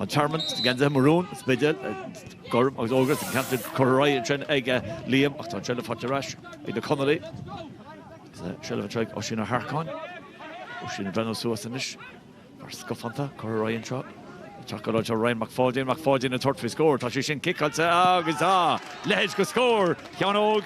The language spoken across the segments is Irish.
An Tearmann sna geansaithe marún, Spidéal, gorm agus ór, agus an ceann sin curtha ar aghaidh ansin ag Liam ach tá an tseilbh faighte ar ais ag na Conallaigh. Seilbh anseo ag Oisín Ó hEarcáin. Oisín ag breathnú suas anois fear scafánta. Curtha ar aghaidh anseo ag teacht go láidir. Ryan Mac Pháidín. Mac Pháidín ag tabhairt faoi scór. Tá sé sin ciceáilte agus tá! Leithéid de scór! Sheán Óg.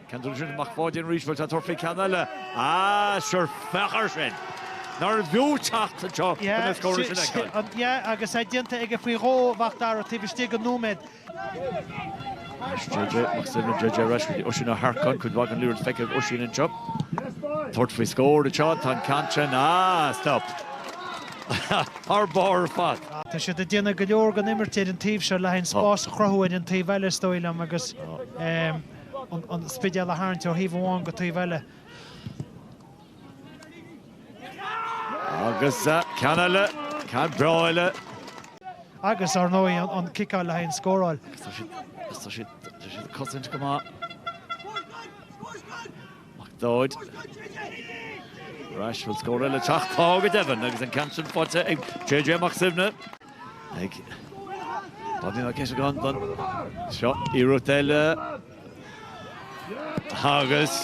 Ceann sin, Mac Pháidín arís, bhuel tá tabhairt faoi ceann eile. Ah, sure, féach air sin! Nár bhfiú teacht anseo chun na scóranna sin a fheiceáil? Ah, yeah, agus é déanta aige faoi dhó, Mhac Dara, taobh istigh den nóiméad. Anois JJ, Mac Suibhne, JJ arís, go dtí Oisín Ó hEarcáin, cuid mhaith den leathar le feiceáil ag Oisín anseo. Tabhairt faoi scór anseo, tá an ceann sin, ah, stop! Thar barr ar fad. Ah, tá siad ag déanamh go leor den imirt ar an taobh seo le haghaidh spás a chruthú ar an taobh eile, is dóigh liom, agus, eh, an Spidéal a tharraingt ó thaobh amháin go taobh eile. Agus ceann eile, ceann breá eile. Agus ar ndóigh an ciceáil le haghaidh an scóráil. Tá siad ag cosaint go maith. McDaid arís, bhfuil scór eile ag teacht? Tá go deimhin agus an ceann sin faighte ag JJ Mac Suibhne ag Bobby Mac Eiteagáin anseo iarracht eile agus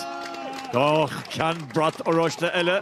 ceann brat oráiste eile.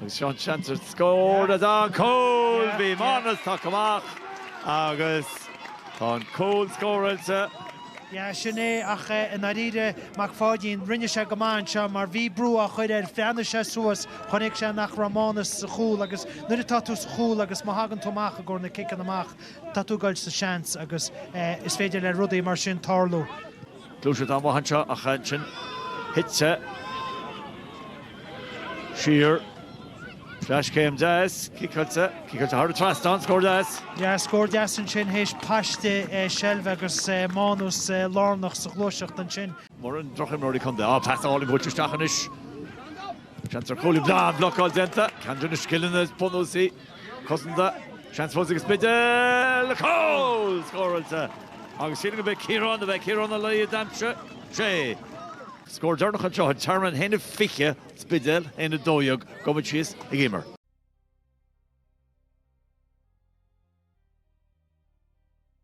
Agus seo an seans ar scór agus an cúl, bhí Mánas tagtha amach agus tá an cúl scóráilte. Yeah, sin é, ach i ndáiríre, Mac Pháidín, rinne sé go maith anseo mar bhí brú á chur air, bhreathnaigh sé suas, chonaic sé nach raibh Mánas sa chúl agus nuair atá tú sa chúl agus má thagann tú amach i gcomhair na ciceanna amach, tá tú ag dul sa tseans agus is féidir le rudaí mar sin tarlú. Gluaiseacht an-mhaith anseo ach ansin thit sé siar. Cleaschéim deas, ciceáilte, ciceáilte thar an trasnán, scór deas. Scór deas ansin théis paiste seilbhe agus Mánas lárnach sa ghluaiseacht ansin. Mórán drochimreoirí contae. Á, pas álainn buailte isteach anois. Seans ar chúl. An blocáil déanta. Ceann de na scileanna is bunúsaí. Cosanta, seans fós ag an Spidéal, cúl! Scóráilte! Agus sílim gurbh é Ciarán, arbh é Ciarán Ó Laoi a d'aimsigh, sé. Scór deireanach anseo, an Tearmann a haon 20, Spidéal a haon 12, gabhfaimid síos ag Éimear.